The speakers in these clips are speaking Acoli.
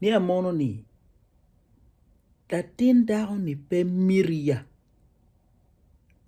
ni amono ni latin dako ni pe miti ya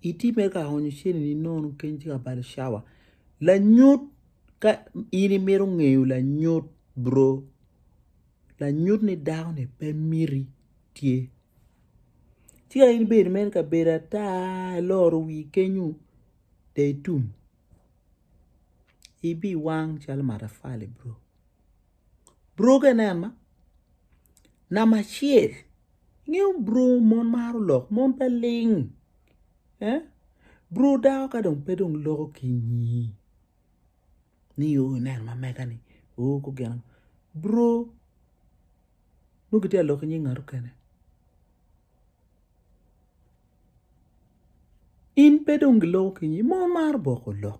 iti mere ka onyo cene ni nono kany ci ka balo cawa lanyut ka in imito ngeyo lanyut bro lanyut ni dako ni pe miti tye ci ka in ibedo mere ka bedo ata iloro wi kenyo de itum ibi wang calo matapali bro. Buroge nen ma namba acel ingeyo buro mon maro lok mon pe ling eh buro dako ka dong pe dong loko ki inyi ni oo ineno ma mega ni oo kor gin ango buro nongo kitye ka lok ki nying ngat okene. In pe dong giloko ki nyingi mon maro boko lok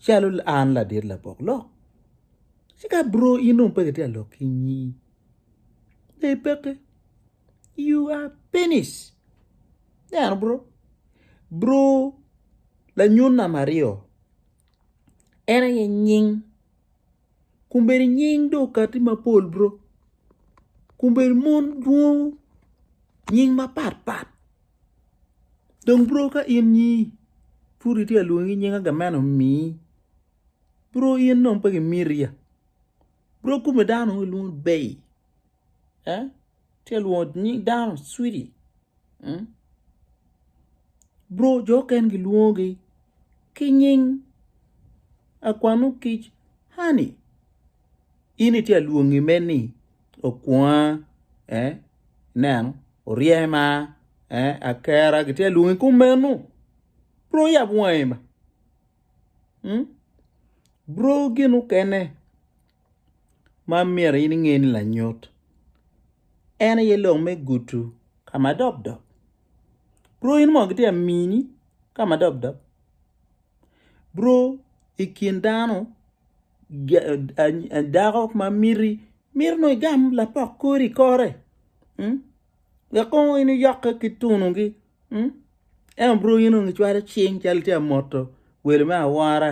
calo an ladit labok lok ci ka bro in dong pe kitye ka lok ki nyingi lee peke you are finish ineno bro, bro lanyu namba aryo en aye nying Kombeddi nying dong okati mapol bro, kombeddi mon dwongo nying mapat pat dong bro ka in nyi pud itye ka lwongi ki nying ma gamente omiyi bro in dong pe kimiti ya bro kome dano kilwongo ni Beyi. Tye lwongo nying dano sweetie. Mm. Bro jo ken gilwongogi ki nying akwanu kic honey. In itye alwongi me ni okwonga eh neno oryema eh akera gitye alwongi kumenu. Bro yab wangi ma. Mm. Bro gin okene. ma myero in inge ni lanyut en aye lok me gutu ka ma dob dob rwongi ni moo gitye ka mini ka ma dob dob bur i kin dano dako ma miti miti nongo igam lapok kori ikore wek kong in iyokke ki tunugi Ento obro in onongo icwalo cing calo itye ka moto welo me awora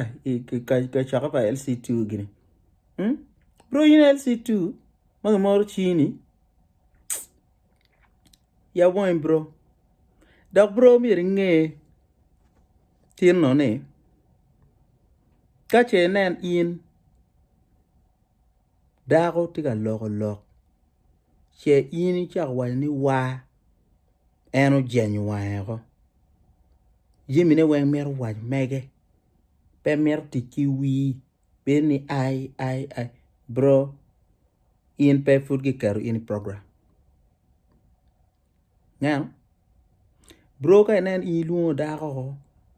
kacokke pa LC2 gini bro in LC2 ma kimoro cini yab wangi bro dok bro myero inge tinno ni kace inen in dako tye ka loko lok ce in icako waco ni waa. en ojenyo wange oko. Jamine weng mito waco mege pe mito tic ki wii bedo ni ai ai ai bro in pe pud kiketo in i program ineno bro ka inen in ilwongo dako o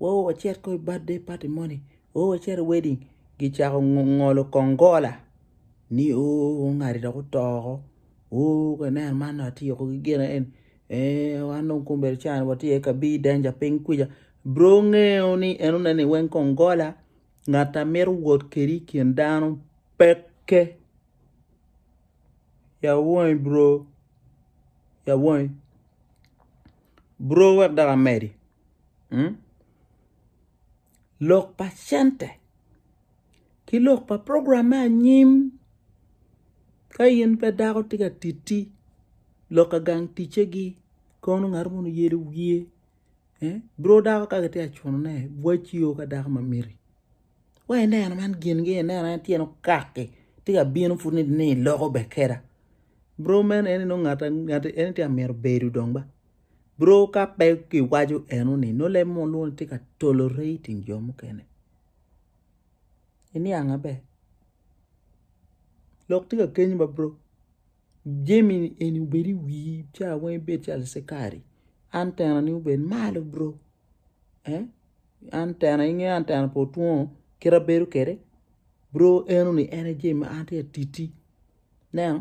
oo wacit kong i birthday party moni oo wacit i wedding gicako ngolo kongola ni oo ongati dok oto oko Ooh ka ineno man dong atye woko ki gin eni. Ee, wan dong kumbedo cani watye ka bi denja piny kwica. Bro ngeo ni en onene weng kong gola. Ngat a mito wot kedi i kin dano pekke. Ya wongi bro. Ya wongi. Bro wek dok amedi. Hmm? lok pa cente ki lok pa program me anyim ka in pe dako tye ka titi lok ka gang ticce gi kono ngat mo ni yelo wiye buro dako ka gitye ka cuno ne bwaci o ka dako ma miti wa ineno man gin gi ineno en tyene okakki tye ka bino pud ni iloko bekeda buro mene en inongo ngati en tye ka mito bedo dong ba bro ka pe kiwaco eno ni nongo leb mo lwongo ni tye ka tolerating jo mukene iniang maber lok tye ka keny ba bro jami eni obed i wii ca weng ibed calo cikari an tena ni obed malo bro an tena inge an tena pe otwongo kit abedo kede bro eno ni en aye jami ma an tye ka titi ineno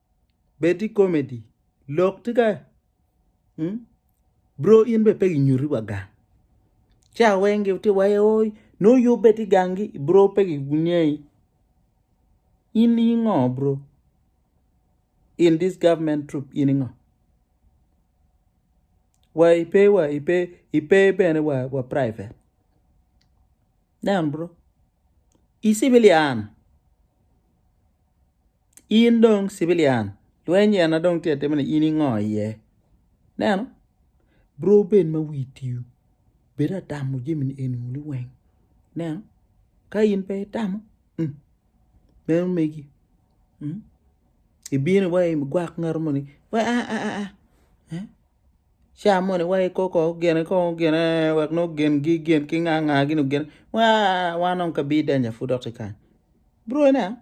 bed i comedy lok tye ka hmm? bro in bene pe ginyuti wa gang ca weng gitye wa e oi nongo yub bene tye gang gi bro pe ginyeyi in i ngo bro in this government troop in i ngo wa ipe wa ipe ipe bene wa wa private nen bro i civilian In dong cibilian, lweny en na dong tye ka timme-ni in ingo iye? Neno, bro bed ma wi itiyo, bed atamo jamini eni wunu weng. Neno, ka in pe itamo, um meno megi. Um, ibino wa igwak ngato moni, wa a a a a, eh? Ca moni wa iko ko ogene ko ogene wek nongo ogen gi gen ki nga nga gin ogene, wa a a a, wa nongo ka bidenya pud dok kikany. Bro ineno?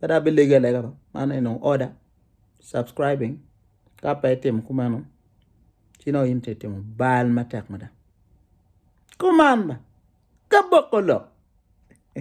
kadi abilego alega dong man aye onongo order subscribing ka pe itimo kumeno ci dong in itimo bal matek mada kuman ba ka boko lok.